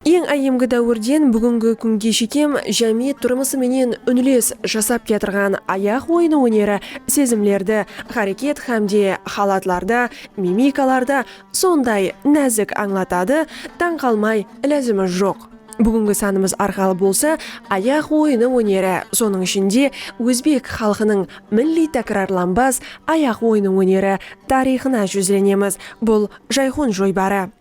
Eń áyyemgi dáwirden búgingi kúnge shekem jámiyet turmısı menen únles jasap kiyatırǵan ayaq oyını óneri sezimlerdi háreket hámde halatlarda, mimikalarda sonday názik ańlatadı, tań qalmay ilázimiz joq. Búgingi sanımız arqalı bolsa ayaq oyını óneri, sonıń ishinde ózbek xalqınıń milliy tákirarlanbas ayaq oyını óneri tariyxına júzlenemiz, bul Jayxun joybarı.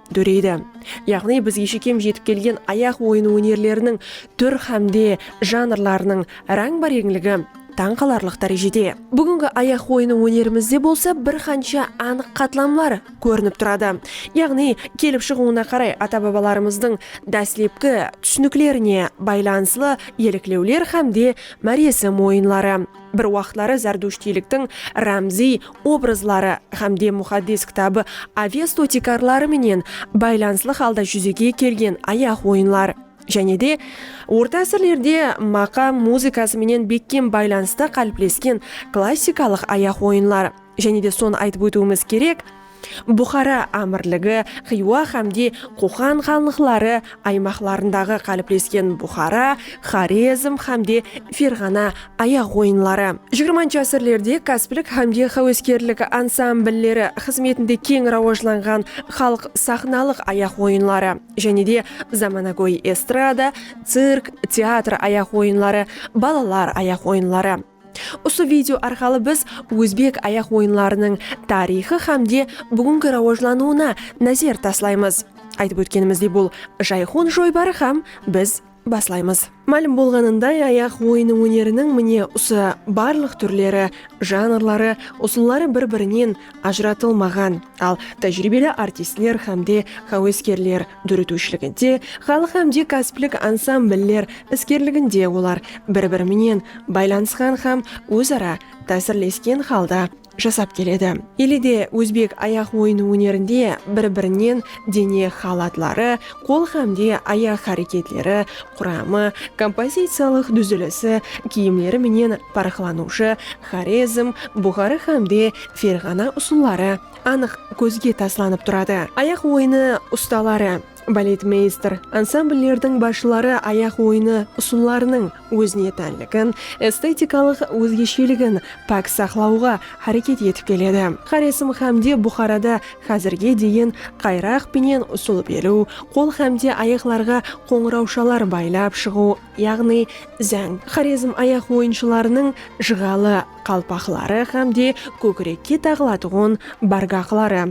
dóreydi. Yaǵnıy bizge shekem jetip kelgen ayaq oyını ónerleriniń túr hámde janrlarınıń ráńba-reńligi tań qalarlıq dárejede. Búgingi ayaq oyını ónerimizde bolsa bir qansha anıq qatlamlar kórinip turadı. Yaǵnıy kelip shıǵıwına qaray ata-babalarımızdıń dáslepki túsiniklerine baylanıslı eliklewler hámde máresim oyınları. Bir waqıtları zardushtiyliktiń rámziy obrazları hám de Muxaddes Kitabı Avesto tiykarları menen baylanıslı halda júzege kelgen ayaq oyınlar, jáne de, orta ásirlerde maqam muzıkası menen bekkem baylanısta qáliplesken klassikalıq ayaq oyınlar. Jáne de sonı aytıp ótiwimiz kerek, Buxara ámirligi, Xiywa hámde Qoqan xanlıqları aymaqlarındaǵı qáliplesken Buxara, Xorezm hámde Ferǵana ayaq oyınları, jigirmanshı ásirlerde káspilik hámde xáweskerlik ansamblleri xızmetinde keń rawajlanǵan xalıq saxnalıq ayaq oyınları, jáne de zamanagóy estrada, cirk, teatr ayaq oyınları, balalar ayaq oyınları. Usı video arqalı biz ózbek ayaq oyınlarınıń tariyxı hám de búgingi rawajlanıwına názer taslaymız. Aytıp ótkenimizdey bul Jayxun joybarı hám biz baslaymız. Málim bolǵanınday ayaq oyını óneriniń mine usı barlıq túrleri, janrları, usılları bir-birinen ajıratılmaǵan, al tájiriybeli artistler hám de háweskerler dóretiwshiliginde, xalıq hámde kásiplik ansambl'ler iskerliginde olar bir-biri menen baylanısqan hám óz-ara tásirlesken halda jasap keledi. Ele de ózbek ayaq oyını ónerinde bir-birinen dene halatları, qol hámde ayaq háreketleri, quramı, kompoziciyalıq dúzilisi, kiyimleri menen parıqlanıwshı Xorezm, Buxarı hámde Ferǵana usılları, anıq kózge taslanıp turadı. Ayaq oyını ustaları, baletmeyster, ansambllerdiń basshıları ayaq oyını usıllarınıń ózine tánligin, estetikalıq ózgesheligin pák saqlawǵa háreket etip keledi. Xorezm hámde Buxarada házirge deyin qayraq penen usıl beriw, qol hámde ayaqlarǵa qońırawshalar baylap shıǵıw yaǵnıy záń Xorezm ayaq oyınshılarınıń jıǵalı qalpaqları hám de kókirekke taǵılatuǵın bargaqları,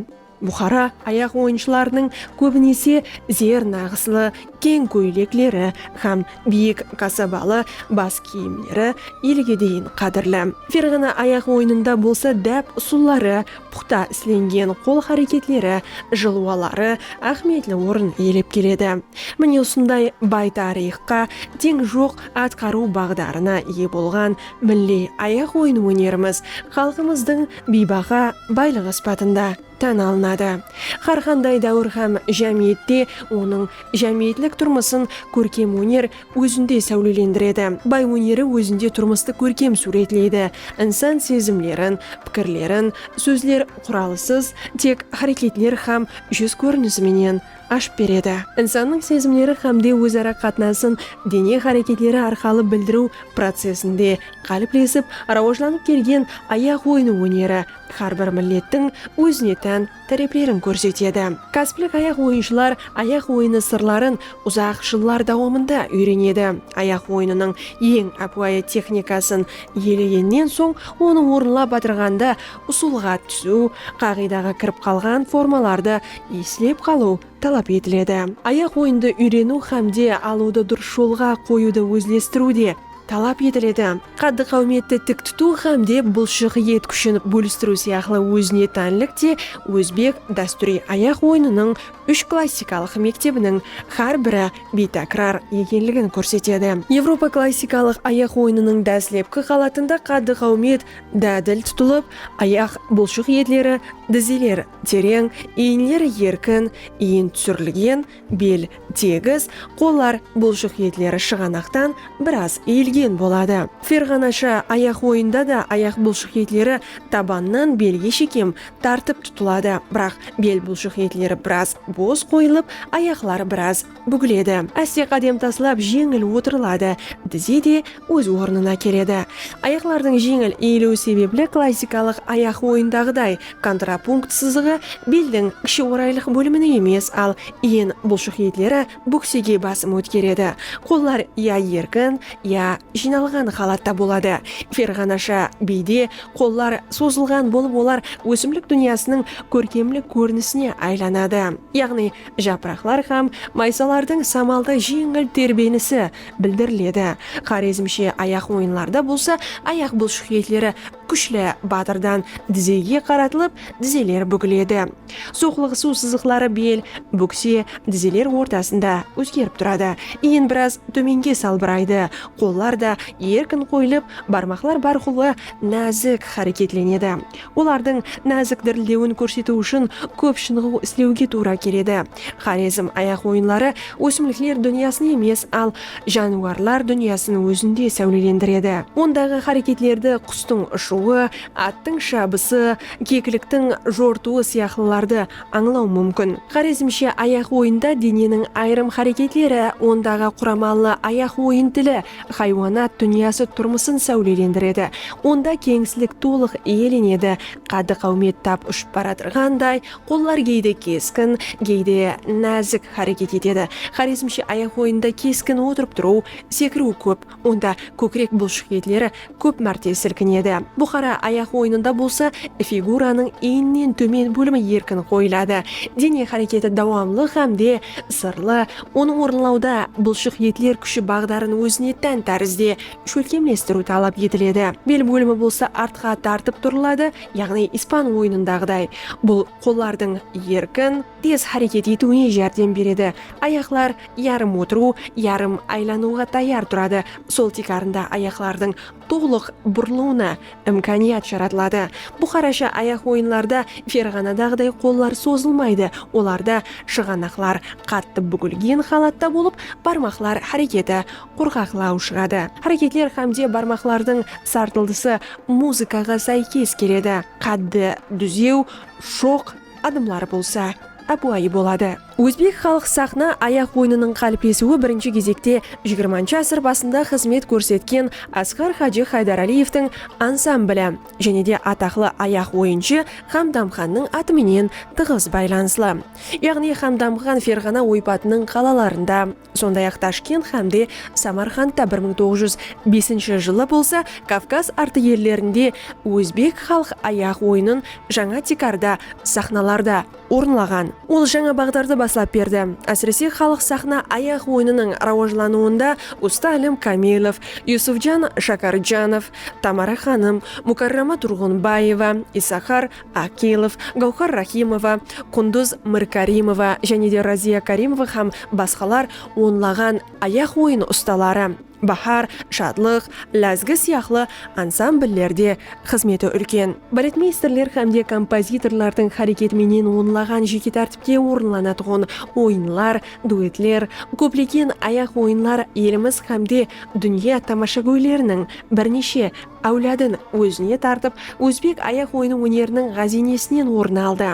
Buxara ayaq oyınshılarınıń kóbinese zer naǵıslı keń kóylekleri hám biyik kasabalı bas kiyimleri elge deyin qádirli. Ferǵana ayaq oyınında bolsa dáp usılları, puxta islengen qol háreketleri, jılwaları áhmiyetli orın iyelep keledi. Mine usınday bay tariyxqa teń joq atqarıw baǵdarına iye bolǵan milliy ayaq oyın ónerimiz xalqımızdıń biybaha baylıǵı sıpatında tán alınadı. Hár qanday dáwir hám jámiyette onıń jámiyetlik turmısın kórkem óner ózinde sáwlelendiredi. Bay óneri ózinde turmıstı kórkem súwretleydi, insan sezimlerin, pikirlerin sózler quralısız, tek háreketler hám júz kórinisi menen ashıp beredi. Insannıń sezimleri hámde óz-ara qatnasın dene háreketleri arqalı bildiriw procesinde qáliplesip rawajlanıp kelgen ayaq oyını óneri hár bir millettiń ózine tán táreplerin kórsetedi. Kásplik ayaq oyınshılar ayaq oyını sırların uzaq jıllar dawamında úyrenedi. Ayaq oyınınıń eń ápiwayı texnikasın ielegennen soń onı orınlap atırǵanda usılǵa túsiw, qaǵıydaǵa kirip qalǵan formalardı islep qalıw talap etiledi. Ayaq oyındı úyreniw hámde alıwdı durıs jolǵa qoyıwdı ózlestiriw de talap etiledi. Qaddı-qáwmetti tik tutıw hámde bulshıq et kúshin bólistiriw sıyaqlı ózine tánlik te ózbek dástúriy ayaq oyınınıń úsh klassikalıq mektebiniń hár biri biytákirar ekenligin kórsetedi. Evropa klassikalıq ayaq oyınınıń dáslepki qalatında qaddı-qáwmet dádil tutılıp, ayaq bulshıq etleri dizeler Tereń, iyinler erkin, iyin túsirilgen, bel tegis, qollar bulshıq etleri shıǵanaqtan biraz iyilgen boladı. Ferǵanasha ayaq oyında da ayaq bulshıq etleri tabannan belge shekem tartıp tutıladı, biraq bel bulshıq etleri biraz bos qoyılıp, ayaqlar biraz Búgiledi. Áste qádem taslap jeńil otırıladı. Dize de óz ornına keledi. Ayaqlardıń jeńil eyiliwi sebepli klassikalıq ayaq oyındaǵıday kontrapunkt sızıǵı beldiń kishi oraylıq bólimine emes, al eń bulshıq etleri bóksege basım ótkeredi. Qollar ya erkin, ya jıynalǵan halatta boladı. Ferǵanasha biyde qollar sozılǵan bolıp olar ósimlik dúnyasınıń kórkemlik kórinisine aylanadı. Yaǵnıy Japıraqlar hám maysalardıń samalda jeńil terbenisi bildiriledi. Xorezmshe ayaq oyınlarda bolsa ayaq bulshıq etleri kúshli batırdan dizege qaratılıp, dizeler búgiledi. Soqlıǵısıw sızıqları bel, búkse, dizeler ortasında ózgerip turadı. Iyen biraz tómenge salbıraydı, qollar da erkin qoyılıp, barmaqlar bárqulı názik háreketlenedi. Olardıń názik dirildewin kórsetiw ushın kóp shınıǵıw islewge tuwra keledi. Xorezm ayaq oyınları ósimlikler dúnyasın emes, al jániwarlar dúnyasın ózinde sáwlelendiredi. Ondaǵı háreketlerdi qustıń ushıwı, attıń shabısı, kekliktiń jortıwı sıyaqlılardı ańlaw múmkin. Xorezmshe ayaq oyında deneniń ayırım háreketleri, ondaǵı quramallı ayaq oyın tili, Haywanat dúnyası turmısın sáwlelendiredi, onda keńislik tolıq iyelenedi, qaddı-qáwmet tap ushıp baratırǵanday, qollar geyde keskin, geyde názik háreket etedi. Xorezmshe ayaq oyında keskin otırıp turıw, sekiriw kóp, onda kókirek bulshıq etleri kóp márte silkinedi. Buxara ayaq oyınında bolsa figuranıń eyninen tómen bólimi erkin qoyıladı, dene háreketi dawamlı hámde sırlı, onı orınlawda bılshıq etler kúshi baǵdarın ózine tán tárizde shólkemlestiriw talap etiledi. Bel bólimi bolsa artqa tartıp turıladı, yaǵnıy ispan oyınındaǵıday, bul qollardıń erkin, Tez háreket etiwine járdem beredi. Ayaqlar yarım otırıw, yarım aylanıwǵa tayar turadı, sol tiykarında ayaqlardıń tolıq burılıwına imkaniyat jaratıladı. Buxarasha ayaq oyınlarda ferǵanadaǵıday qollar sozılmaydı, olarda shıǵanaqlar qattı búgilgen halatta bolıp, barmaqlar háreketi qurǵaqlaw shıǵadı. Háreketler hámde barmaqlardıń sartıldısı muzıkaǵa sáykes keledi. Qáddi dúzew, shoq. Adımları bolsa ápiwayı boladı. Ózbek xalıq saxna ayaq oyınınıń qáliplesiwi birinshi gezekte xxi ásir basında xızmet kórsetken Asqar Hajı Haydaraliyevtiń ansambli jáne de ataqlı ayaq oyınshı Xamdamxannıń atı menen tıǵız baylanıslı. Yaǵnıy Xamdamxan Ferǵana oypatınıń qalalarında Sonday-aq Tashkent hám de Samarqandta bir mıń toǵız júz besinshi jılı bolsa Kavkaz artı ellerinde ózbek xalıq ayaq oyının jańa tiykarda saxnalarda orınlaǵan. Ol jańa baǵdardı baslap berdi. Ásirese xalıq saxna ayaq oyınınıń rawajlanıwında usta Alim Kamilov, Yusufjan Shakarjanov, Tamara xanım, Mukarrama Turǵınbaeva, Isahar, Akilov, Gáwhar Rahimova, Qunduz Mirkarimova jáne de Raziya Karimova hám basqalar onlaǵan ayaq oyını ustaları, Bahar, Shadlıq, Lázgi sıyaqlı ansambllerde xızmeti úlken. Baletmeysterler hám de kompozitorlardıń háreketi menen onlaǵan jeke tártipte orınlanatuǵın oyınlar, duetler, kóplegen ayaq oyınlar elimiz hám de dúnya tamashagóyleriniń bir neshe Áwladın ózine tartıp, ózbek ayaq oyını óneriniń ǵáziynesinen orın aldı.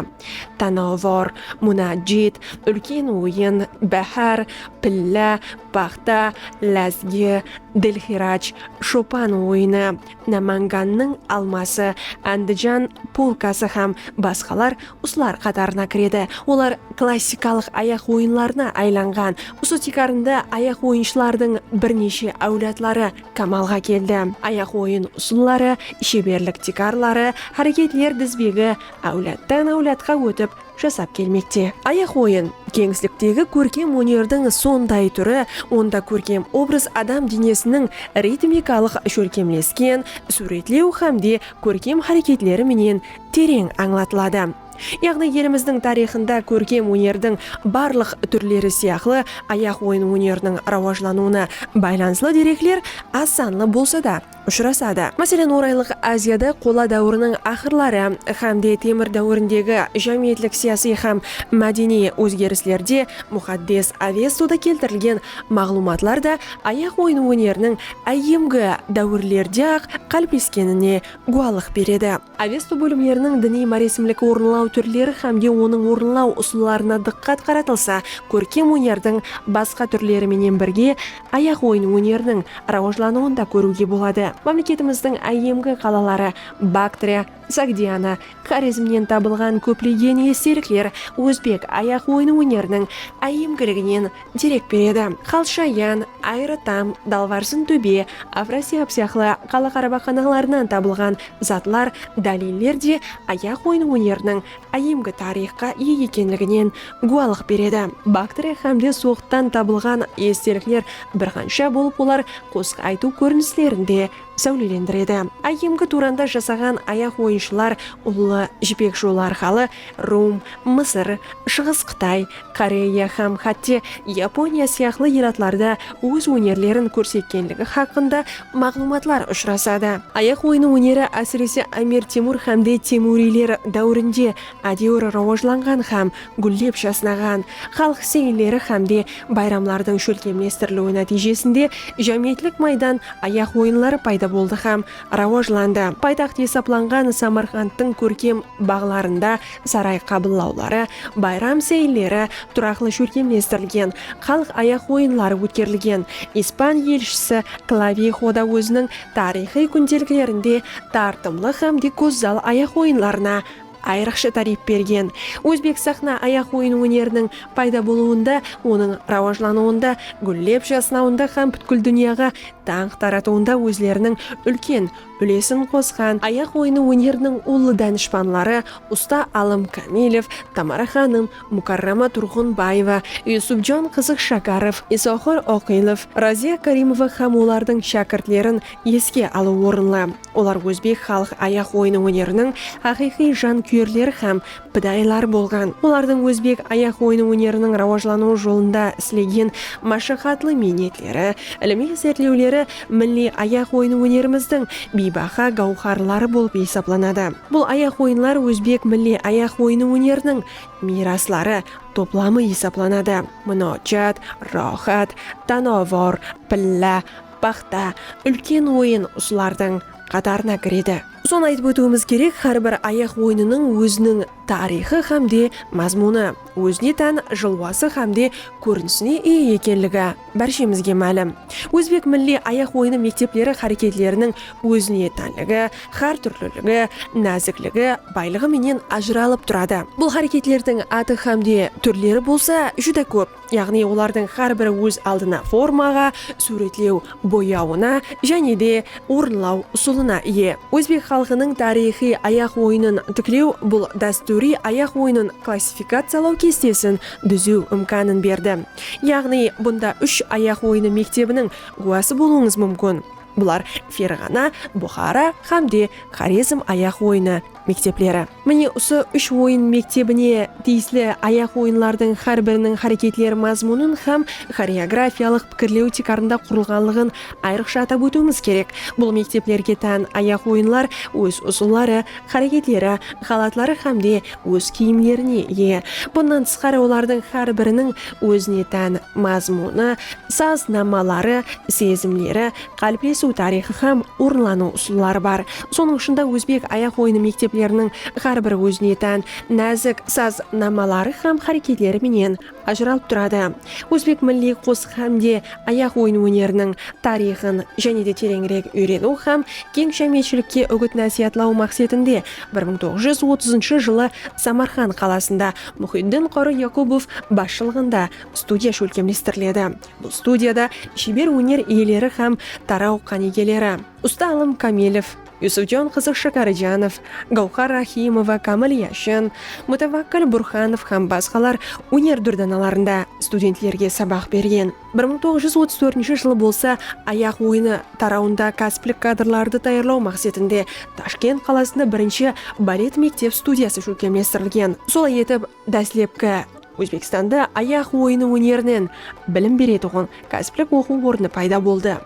Tanavvur, Munajjit, Úlken oyın, Báhár, Pilla, Paxta, Lázgi, Dilxiraj, Shopan oyını, Námangannıń alması, Ándijan polkası hám basqalar usılar qatarına kiredi. Olar klassikalıq ayaq oyınlarına aylanǵan. Usı tiykarında ayaq oyınshılardıń bir neshe áwladları kamalǵa keldi. Ayaq oyın usılları, sheberlik tiykarları, háreketler dizbegi áwladtan áwladqa ótip jasap kelmekte. Ayaq oyın, keńisliktegi kórkem ónerdiń sonday túri, onda kórkem obraz adam denesiniń ritmikalıq shólkemlesken súwretlew hámde kórkem háreketleri menen tereń ańlatıladı. Yaǵnıy elimizdiń tariyxında kórkem ónerdiń barlıq túrleri sıyaqlı ayaq oyın óneriniń rawajlanıwına baylanıslı derekler az sanlı bolsa da ushırasadı. Máselen, Oraylıq Aziyada Qola dáwiriniń aqırları hám de Temir dáwirindegi jámiyetlik-siyasiy hám mádeniy ózgerislerde Muxaddes Avestada keltirilgen maǵlıwmatlar da ayaq oyın óneriniń áyyemgi dáwirlerde-aq qálipleskenine gúwalıq beredi. Avesto bólimleriniń diniy máresimlik orınlaw túrleri hám de onıń orınlaw usıllarına dıqqat qaratılsa, kórkem ónerdiń basqa túrleri menen birge ayaq oyın óneriniń rawajlanıwın da kóriwge boladı. Mámleketimizdiń áyyemgi qalaları Baktriya, Sogdiana, Xorezmnen tabılǵan kóplegen estelikler ózbek ayaq oyın óneriniń áyyemgiliginen derek beredi. Xalshayan, Ayratam, Dalvarsın tóbe, Afrasiyab sıyaqlı qala qarabaqanaqlarınan tabılǵan zatlar, dáliller de ayaq oyın óneriniń áyyemgi tariyxqa iye ekenliginen gúwalıq beredi. Baktriya hám de Soǵdtan tabılǵan estelikler bir qansha bolıp olar qosıq aytıw kórinislerin de sáwlelendiredi. Áyyemgi Turanda jasaǵan ayaq oyınshılar Ullı Jipek jolı arqalı Rum, Mısır, Shıǵıs Qıtay, Koreya hám hátte Yaponiya sıyaqlı elatlarda óz ónerlerin kórsetkenligi haqqında maǵlıwmatlar ushırasadı. Ayaq oyını óneri ásirese Amir Temur hámde Temuriyler dáwirinde ádewir rawajlanǵan hám gúllep jasnaǵan. Xalıq seyilleri hámde bayramlardıń shólkemlestiriliwi nátiyjesinde jámiyetlik maydan ayaq oyınları payda boldı hám rawajlandı. Paytaxt esaplanǵan Samarqandtıń kórkem baǵlarında saray qabıllawları, bayram seyilleri, turaqlı shólkemlestirilgen xalıq ayaq oyınları ótkerilgen. Ispan elshisi Klavijo da óziniń tariyxıy kúndeliklerinde tartımlı xám de gózzal ayaq oyınlarına Ayrıqsha táriyp bergen. Ózbek saxna ayaq oyın óneriniń payda bolıwında, onıń rawajlanıwında, gúllep jasnawında hám pútkil dúnyaǵa dańq taratıwında ózleriniń úlken úlesin qosqan ayaq oyını óneriniń ullı dánishpanları usta Alım Kámilev, Tamara xanım, Mukarrama Turǵınbaeva, Yusupjon Qızıkshakarov, Isoqır Oqilov, Raziya Karimova hám olardıń shákirtlerin eske alıw orınlı. Olar ózbek xalıq ayaq oyını óneriniń haqıyqıy jankúyerleri hám pidayıları bolǵan. Olardıń ózbek ayaq oyını óneriniń rawajlanıwı jolında islegen mashaqatlı miynetleri, ilimiy izertlewleri milliy ayaq oyın ónerimizdiń biybaha gawharları bolıp esaplanadı. Bul ayaq oyınlar ózbek milliy ayaq oyın óneriniń miyrasları toplamı esaplanadı, munojat, roxat, tanavor, pilla, paxta, úlken oyın usılardıń qatarına kiredi. Sonı aytıp ótiwimiz kerek, hár bir ayaq oyınınıń óziniń tariyxı hám de mazmunı, ózine tán jılwası hám de kórinisine iye ekenligi, Bárshemizge málim, ózbek milliy ayaq oyını mektepleri háreketleriniń ózine tánligi, hár túrliligi, názikligi, baylıǵı menen ajıralıp turadı. Bul háreketlerdiń atı hám de túrleri bolsa júdá kóp, yaǵnıy olardıń hár biri óz aldına formaǵa, súwretlew boyawına jáne de orınlaw usılına iye. Ózbek xalqınıń tariyxıy ayaq oyının tiklew bul dástúriy ayaq oyının klassifikaciyalaw kestesin dúziw imkanın berdi. Yaǵnıy, bunda úsh ayaq oyını mektebiniń gúwası bolıwıńız múmkin. Bular Ferǵana, Buxara hám de Xorezm ayaq oyını mektepleri. Mine usı úsh oyın mektebine tiyisli ayaq oyınlardıń hár biriniń háreketler mazmunın hám xoreografiyalıq pikirlew tiykarında qurılǵanlıǵın ayrıqsha atap ótiwimiz kerek. Bul mekteplerge tán ayaq oyınlar óz usılları, háreketleri, halatları hám de Óz kiyimlerine iye. Bunnan tısqarı olardıń hár biriniń ózine tán mazmunı, saz nammaları, sezimleri, qáliplesiw tariyxı hám orınlanıw usılları bar. Sonıń ushında ózbek ayaq oyını mektepleriniń hár bir ózine tán názik saz nammaları hám háreketleri menen ajıralıp turadı. Ózbek milliy qosıq hám de ayaq oyın óneriniń tariyxın jáne de tereńirek úyreniw hám keń jámiyetshilikke úgit-násiyatlaw maqsetinde bir mıń toǵız júz otızınshı jılı Samarqand qalasında Muxiddin Qorı Yaqubov basshılıǵında studiya shólkemlestiriledi. Bul studiyada sheber óner iyeleri hám taraw qánigeleri, usta alım Kamilov, Yusufjon qızı Shakarijanov, Gawxar Rahimova, Kamil Yashin, Mutawakkil Burxanov hám basqalar óner dúrdanalarında studentlerge sabaq bergen. Bir mıń toǵız júz otız tórtinshi jılı bolsa Ayaq oyını tarawında kásiplik kadrlardı tayarlaw maqsetinde Tashkent qalasında birinshi balet mektep studiyası shólkemlestirilgen. Solay etip, Dáslepki Ózbekstanda ayaq oyını ónerinen bilim beretuǵın kásiplik oqıw ornı payda boldı.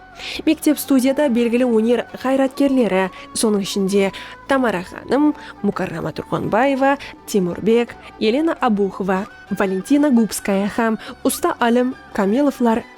Mektep-studiyada belgili óner ǵayratkerleri, sonıń ishinde, Tamara xanım, Mukarrama Turxanbaeva, Temurbek, Elena Abuxova, Valentina Gubskaya hám usta alim Kamilovlar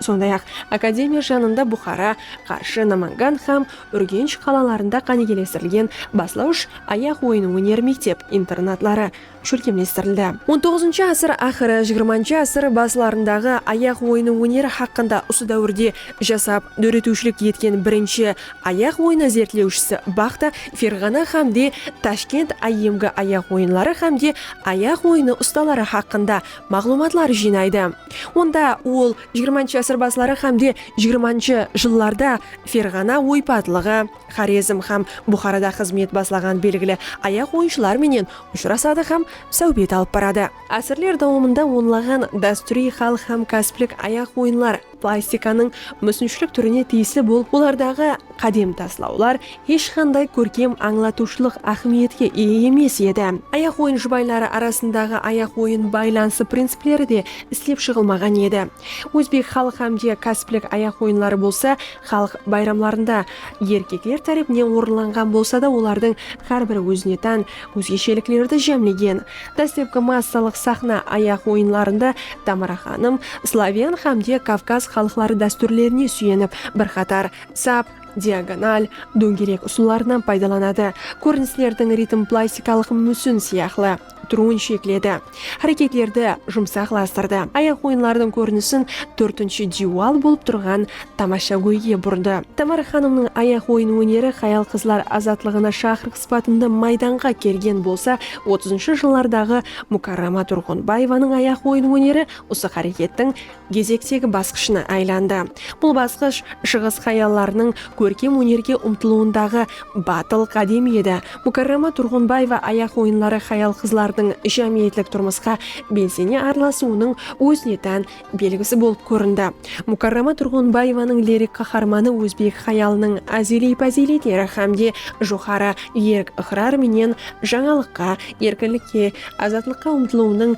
Sonday-aq, akademiya janında Buxara, Qarshı, Namangan hám Úrgensh qalalarında qánigelestirilgen baslawısh ayaq oyın óner mektep, internatları shólkemlestirildi. On toǵızınshı asır aqırı, jigirmanshı asır baslarındaǵı ayaq oyın óneri haqqında usı dáwirde jasap, dóretiwshilik etken birinshi ayaq oyını zertlewshisi Baxta, Ferǵana hám de Tashkent áyyemgi ayaq oyınları hám de ayaq oyını ustaları haqqında maǵlıwmatlar jıynaydı. Onda ol jigirmanshı asır basları hámde jigirmanshı jıllarda Ferǵana oypatlıǵı, Xorezm hám Buxarada xızmet baslaǵan belgili ayaq oyınshılar menen ushırasadı hám sáwbet alıp baradı. Ásirler dawamında onlaǵan dástúriy xalıq hám kásplik ayaq oyınlar, Plastikanıń músinshilik túrine tiyisli bolıp olardaǵı qádem taslawlar hesh qanday kórkem ańlatıwshılıq áhmiyetke iye emes edi. Ayaq oyın jubayları arasındaǵı ayaq oyın baylanısı principleri de islep shıǵılmaǵan edi. Ózbek xalıq hám de kásiplik ayaq oyınları bolsa xalıq bayramlarında erkekler tárepinen orınlanǵan bolsa da olardıń xár bir ózine tán Ózgesheliklerdi jámlegen dáslepki massalıq saxna ayaq oyınlarında Tamara xanım sloven xámde kavkaz xalıqları dástúrlerine súyenip, bir qatar sap, diagonal, dóngerek usıllarınan paydalanadı, kórinislerdiń ritm plastikalıq músin sıyaqlı turıwın shekledi, háreketlerdi jumsaqlastırdı, ayaq oyınlardıń kórinisin tórtinshi diywal bolıp turǵan tamashagóyge burdı. Tamara xanımnıń ayaq oyın óneri hayal-qızlar azatlıǵına shaqırıqsız sıpatında maydanǵa kelgen bolsa, otızınshı jıllardaǵı Mukarrama Turǵınbaevanıń ayaq oyın óneri usı hárekettiń gezektegi basqıshına aylandı. Bul basqısh Shıǵıs hayallarınıń kórkem ónerge umtılıwındaǵı batıl qádem edi. Mukarrama Turǵınbaeva ayaq oyınları hayal-qızlardıń jámiyetlik turmısqa belsene aralasıwınıń ózine tán belgisi bolıp kórindi. Mukarrama Turǵınbaevanıń lirik qaharmanı ózbek hayalınıń ázeliy páziyletleri hám de joqarı erk-ıqrar menen jańalıqqa, erkinlikke, azatlıqqa umtılıwınıń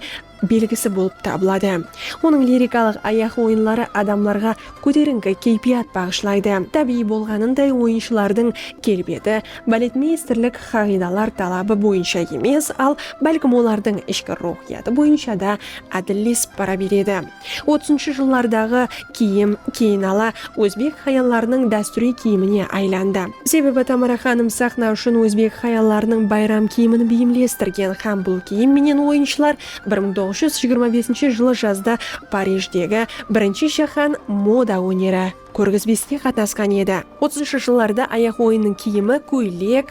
belgisi bolıp tabıladı. Onıń lirikalıq ayaq oyınları adamlarǵa kóterińki keypiyat baǵıshlaydı. Tábiyiy bolǵanınday oyınshılardıń kelbeti baletmeysterlik qaǵıydalar talabı boyınsha emes, al bálkim olardıń ishki ruwxıyatı boyınsha da ádillesip bara beredi. Otızınshı jıllardaǵı kiyim keyin ala ózbek hayallarınıń dástúriy kiyimine aylandı. Sebebi Tamara xanım saxna ushın ózbek hayallarınıń bayram kiyimin beyimlestirgen hám bul kiyim menen oyınshılar bir mıń toǵız júz jigirma besinshi jılı jazda Parijdegi Birinshi jáhán moda óneri kórgizbeske qatnasqan edi. Otızınshı jıllarda ayaq oyınıń kiyimi kóylek,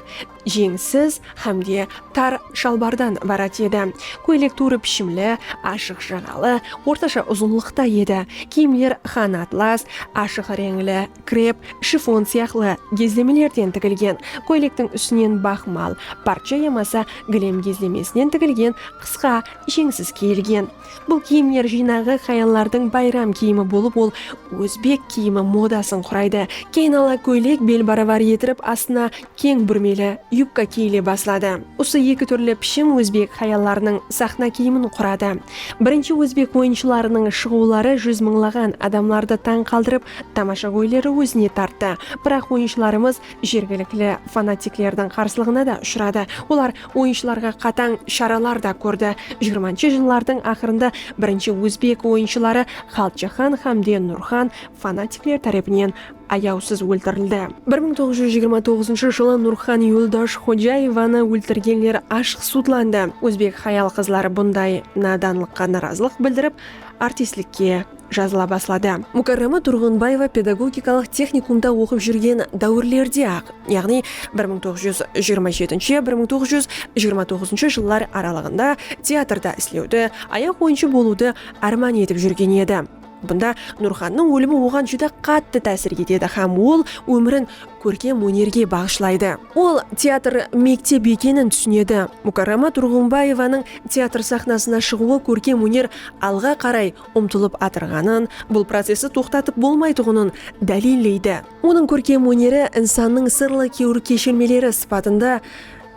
jeńsiz hám de tar shalbardan ibarat edi. Kóylek tuwrı pishimli, ashıq jaǵalı, ortasha uzınlıqta edi. Kiyimler xan atlas, ashıq reńli, krep, shifon sıyaqlı gezlemelerden tigilgen. Kóylektiń ústinen baxmal, parcha yamasa gilem gezlemesinen tigilgen qısqa jeńsiz kiyilgen. Bul kiyimler jıynaǵı hayallardıń bayram kiyimi bolıp, ol ózbek kiyimi modasın quraydı. Keyin ala kóylek bel barabar etirip, astına keń búrmeli yubka kiyile basladı. Usı eki túrli pishim ózbek hayallarınıń saxna kiyimin quradı. Birinshi ózbek oyınshılarınıń shıǵıwları júz mıńlaǵan adamlardı tań qaldırıp, tamashagóyleri ózine tarttı. Biraq oyınshılarımız jergilikli fanatiklerdiń qarsılıǵına da ushıradı. Olar. Oyınshılarǵa qatań sharalar da kórdi. Jigirmanshı jıllardıń aqırında birinshi ózbek oyınshıları Xalqjaxan xámde Nurxan fanatikler tárepinen ayawsız óltirildi. Bir mıń toǵız júz jigirma toǵızınshı jılı Nurxan Yuldosh Xojaevanı óltirgenler ashıq sudlandı. Ózbek hayal-qızları bunday nadanlıqqa narazılıq bildirip, artistlikke jazıla basladı. Mukarrama Turǵınbaeva pedagogikalıq texnikumda oqıp júrgen dáwirlerde-aq, yaǵnıy bir mıń toǵız júz jigirma jeti, bir mıń toǵız júz jigirma toǵızınshı jıllar aralıǵında teatrda islewdi, ayaq oyınshı bolıwdı árman etip júrgen edi. Bunda Nurxannıń ólimi oǵan júdá qattı tásir etedi hám ol ómirin kórkem ónerge baǵıshlaydı. Ol teatr mektep ekenin túsinedi. Mukarrama Turǵınbaevanıń teatr saxnasına shıǵıwı kórkem óner alǵa qaray umtılıp atırǵanın, bul processti toqtatıp bolmaytuǵının dálilleydi. Onıń kórkem óneri insannıń sırlı kewir keshirmeleri sıpatında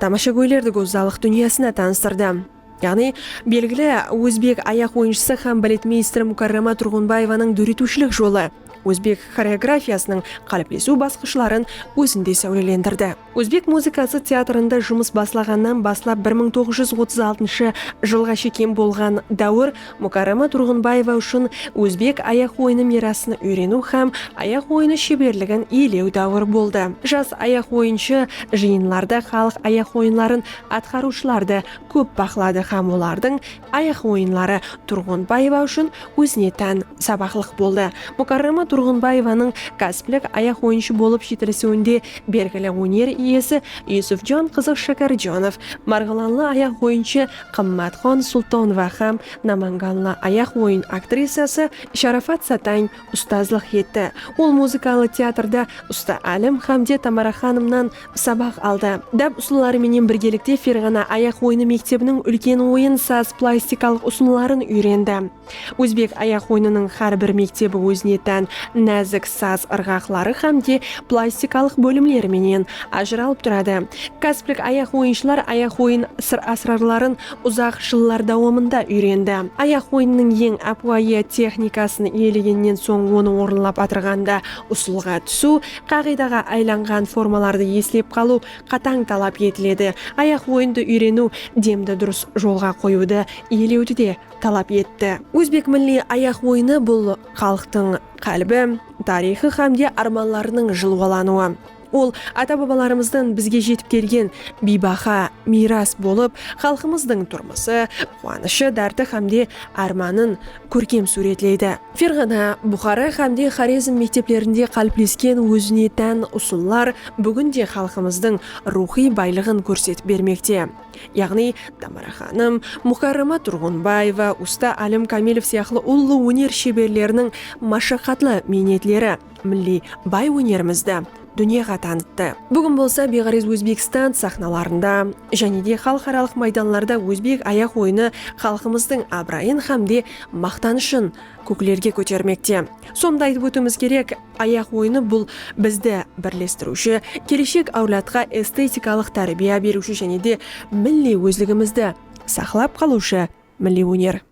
tamashagóylerdi gózzalıq dúnyasına tanıstırdı. Yaǵnıy, belgili ózbek ayaq oyınshısı hám baletmeyster Mukarrama Turǵınbaevanıń dóretiwshilik jolı, Ózbek xoreografiyasınıń qáliplesiw basqıshların ózinde sáwlelendirdi. Ózbek muzıkası teatrında jumıs baslaǵannan baslap bir mıń toǵız júz otız altınshı jılǵa shekem bolǵan dáwir Mukarrama Turǵınbaeva ushın ózbek ayaq oyını miyrasın úyreniw hám ayaq oyını sheberligin iyelew dáwir boldı. Jas ayaq oyınshı jıyınlarda xalıq ayaq oyınların atqarıwshılardı kóp baqladı hám olardıń Ayaq oyınları Turǵınbaeva ushın ózine tán sabaqlıq boldı. Mukarrama Turǵınbaevanıń kásiplik ayaq oyınshı bolıp jetilisiwinde belgili óner iyesi Yusufjon qızı Shakarjonov, marǵılanlı ayaq oyınshı Qımmatxon Sultonova hám namanganlı ayaq oyın aktrisası Sharafat Satań ustazlıq etti. Ol muzıkalı teatrda Usta Álim hámde Tamaraxanımnan Sabaq aldı. Dáp usılları menen birgelikte Ferǵana ayaq oyını mektebiniń úlken oyın saz plastikalıq usınların úyrendi. Ózbek ayaq oyınınıń xár bir mektebi ózine tán názik saz ırǵaqları xám de plastikalıq bólimleri menen ajıralıp turadı. Kasplik ayaq oyınshılar ayaq oyın sır-ásrarların uzaq jıllar dawamında úyrendi. Ayaq oyınınıń eń ápiwayı texnikasın iyelegennen soń onı orınlap atırǵanda usılǵa túsiw, Qaǵıydaǵa aylanǵan formalardı eslep qalıw qatań talap etiledi. Ayaq oyındı úyreniw demdi durıs jolǵa qoyıwdı iyelewdi de talap etti. Ózbek milliy ayaq oyını bul xalıqtıń qálbi, tariyxı hám de ármanlarınıń jılwalanıwı. Ol ata-babalarımızdan bizge jetip kelgen biybaha miyras bolıp, xalqımızdıń turmısı, quwanıshı, dárti hám de ármanın kórkem súwretleydi. Ferǵana, Buxara hámde Xorezm mekteplerinde qáliplesken ózine tán usıllar búgin de xalqımızdıń ruwxıy baylıǵın kórsetip bermekte. Yaǵnıy, Tamara xanım, Mukarrama Turǵınbaeva, usta Álim Kamilov sıyaqlı ullı óner sheberleriniń mashaqatlı miynetleri, milliy bay ónerimizdi dúnyaǵa tanıttı. Búgin bolsa Beǵárez Ózbekstan saxnalarında, jáne de xalıqaralıq maydanlarda ózbek ayaq oyını xalqımızdıń abırayın hám de maqtanıshın kóklerge kótermekte. Sonı da aytıp ótiwimiz kerek, ayaq oyını bul bizdi birlestiriwshi, keleshek áwladqa estetikalıq tárbiya beriwshi jáne de milliy ózligimizdi saqlap qalıwshı milliy óner.